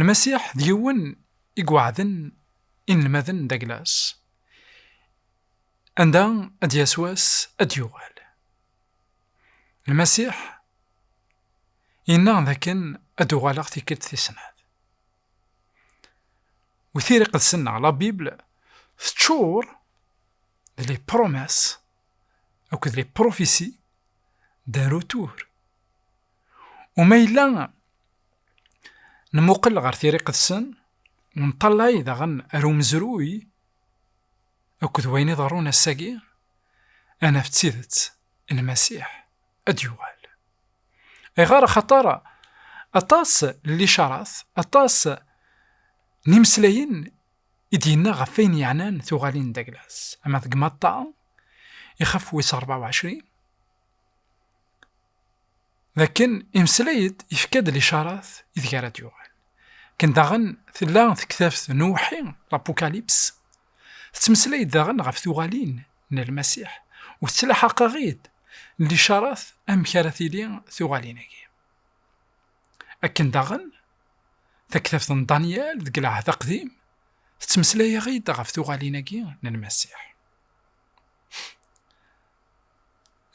Lmasiḥ d yiwen i iweɛden inelmaden d aglas. Anda ad d-yas wass ad d-yuɣal. Lmasiḥ yenna dakken ad d-uɣaleɣ tikkelt tis snat. U Tira Iqedsen neɣ La Bible teččur d les promesses akked les prophéties d'un retour Uma yella nmuqel ɣer tiriqet-sen, nṭallay daɣen ar umezruy akked wayen iḍerrun ass-agi, ad naf d tidet Lmasiḥ ad d-yuɣal. Ayɣer? Axaṭer aṭas n licaṛat, aṭas n yimeslayen i d-yenna ɣef wayen yeɛnan tuɣalin n Daglas, ama deg Matta, ixef wis ṛebɛa u ɛecrin, Dakken imeslay-d, yefka-d licaṛat ideg ara d-yuɣal. Akken daɣen tella tektabt n uwḥi, L'Apocalypse, tettmeslay-d daɣen ɣef tuɣalin n Lmasiḥ, u tettlaḥaq-aɣ-id licaṛat amek ara tili tuɣalin-agi. Akken daɣen taktabt n Danyal deg Lɛehd Aqdim tettmeslay-aɣ-id ɣef tuɣalin-agi n Lmasiḥ.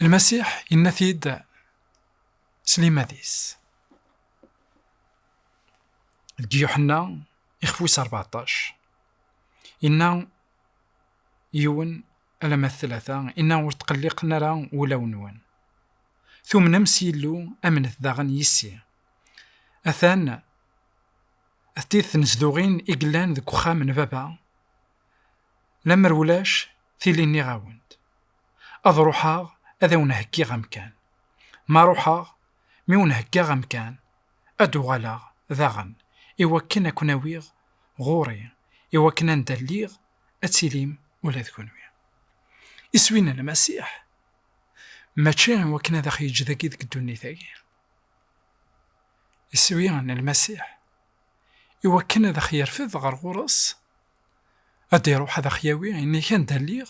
Lmasiḥ yenna-t-id s liman-is. Deg Yuḥenna, ixef wis rbeɛṭac, inna yiwen alamma d tlata, inna ur tqelliqen ara wulawen-nwen. Tumnem s Yillu, amnet daɣen yis-i. Atan d tid tnezduɣin i yellan deg uxxam n Baba, lemmer ulac tili nniɣ-awen-d. Ad ruḥeɣ ad awen-heggiɣ amkan. Ma ruḥeɣ, mi wen-heggaɣ amkan, ad d-uɣaleɣ daɣen i wakken ad ken-awiɣ ɣur-i, i wakken anda lliɣ ad tilim ula d kunwi. Iswi n Lmasiḥ mačči i wakken ad aɣ-yeǧǧ dagi deg ddunit-agi. Iswi n Lmasiḥ i wakken ad aɣ-yerfed ɣer ɣur-s, ad d-iruḥ ad aɣ-yawi nnig anda lliɣ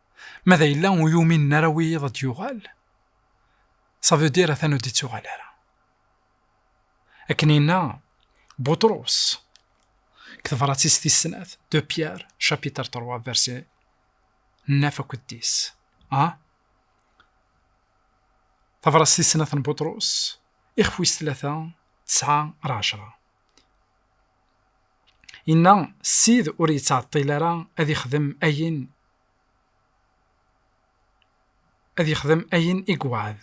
Ma da yella ur yuminen ara wiyiḍ ad d-yuɣal, ça veut dire atan ur d-ittuɣal ara. Akken yenna Buṭrus, deg tebrat-is tis snat, de Pierre, chapitre 3, verset 9 akked 10. Ha? Tabrat tis snat n Buṭrus, ixef wis tlata, tesɛa ar ɛecra. Yenna, Ssid ur yettɛeṭṭil ara ad ixdem ayen ad yexdem ayen i iweɛɛed,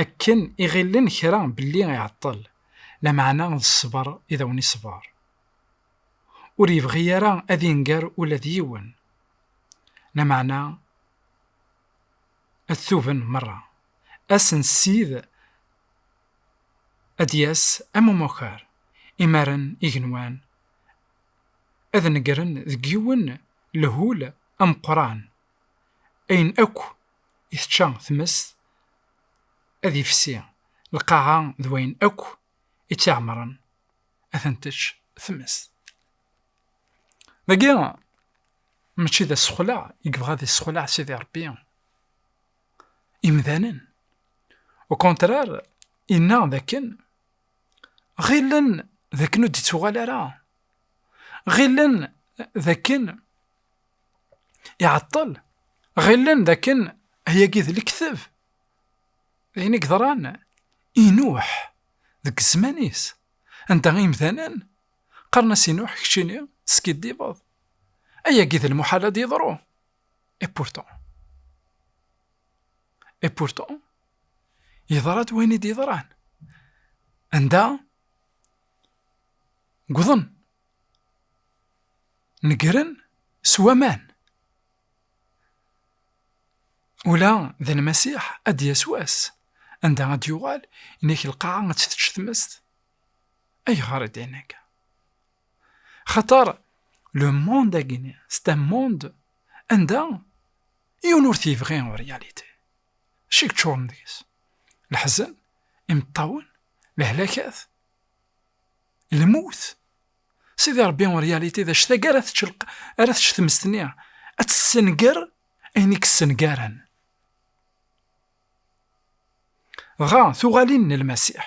akken i ɣillen kra belli iɛeṭṭel, lameɛna d ṣṣber i d awen-iṣber. Ur yebɣi ara ad inger ula d yiwen, lameɛna ad tuben merra. Ass n Ssid ad d-yas am umakar, imaren, igenwan, ad negren deg yiwen lehhul ameqqran, ayen akk i tečča tmest ad ifsi, lqaɛa d wayen akk i tt-iɛemren ad ten-tečč tmest. Dagi mačči d asexleɛ i yebɣa ad yessexleɛ Sidi Ṛebbi imdanen, ukontrar, yenna dakken ɣilen d akken ur d-ittuɣal ara ɣilen d akken iɛeṭṭel ɣilen d akken ayagi d lekteb d ayen i yeḍran inuḥ deg zzman-is anda imdanen qqaren-as inuḥ keččini teskiddibeḍ ayagi d lmuḥal ad yeḍru et pourtant et pourtant yeḍra-d wayen i d-yeḍran anda gḍen negren s waman ula d lmasiḥ ad d-yas wass anda ad d-yuɣal inek lqaɛa ad tt-tečč tmest ayɣer i d-in akka xaṭer le monde agini c'est un monde anda yiwen ur t-yebɣi en réalité Acu i yeččuren deg-s? Leḥzen, imeṭṭawen, lehlakat, lmut. Sidi Ṛebbi en réalité d acu tagi ara tečč ara tečč tmest-nni, ad tessenger ayen i yessengaren. Dɣa tuɣalin n Lmasiḥ.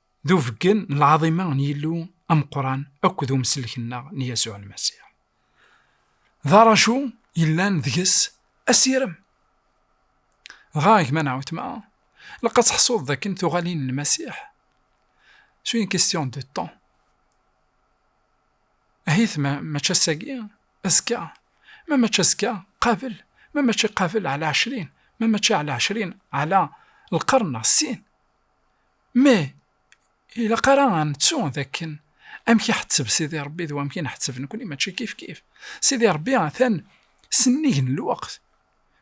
d ubeggen n lɛaḍima n Yillu ameqqran akked umsellek-nneɣ n Yasuɛ Lmasiḥ. D aracu yellan deg-s asirem. Dɣa, a gma neɣ weltma, ilaq ad teḥsuḍ dakken tuɣalin n Lmasiḥ s une question de temps. Ahit ma mačči ass-agi, azekka, ma mačči azekka, qabel, ma mačči qabel ɛla ɛecrin, ma mačči ɛla ɛecrin, ɛla lqern neɣ ssin. Meh! Ilaq ara a nettu d akken amek iḥetteb Sidi Ṛebbi d wamek i nḥetteb nekni mačči kifkif. Sidi Ṛebbi atan s nnig n lweqt,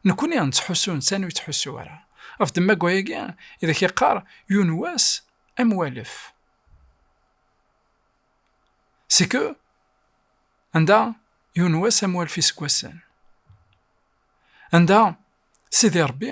nekni nettḥussu netta ur yettḥussu ara. Af-d deg wayagi i d ak-yeqqar yiwen n wass am walef, c'est que anda yiwen n wass am walef iseggasen, anda Sidi Ṛebbi.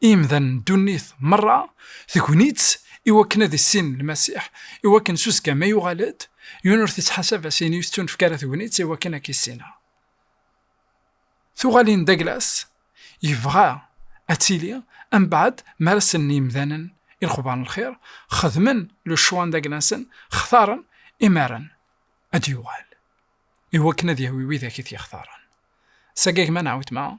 i yemdanen n ddunit merra, tegni-tt i wakken ad issinen Lmasiḥ, i wakken s uzekka ma yuɣal-d, yiwen ur t-ittḥasab as ayen yettunefk ara tegni-tt i wakken ad k-issineɣ. Tuɣalin Daglas yebɣa ad tili am baɛd mi ara sellen yemdanen i lexbar n lxir, xedmen le choix n Daglasen, xtaren imaren ad d-yuɣal, i wakken ad yahwi widak i t-yextaren. S agagma neɣ wetma,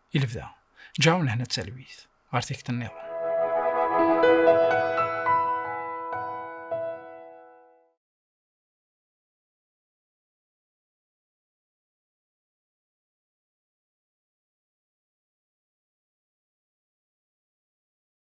i lebda ǧaɛu lehna d talwit ɣer tikti nniḍen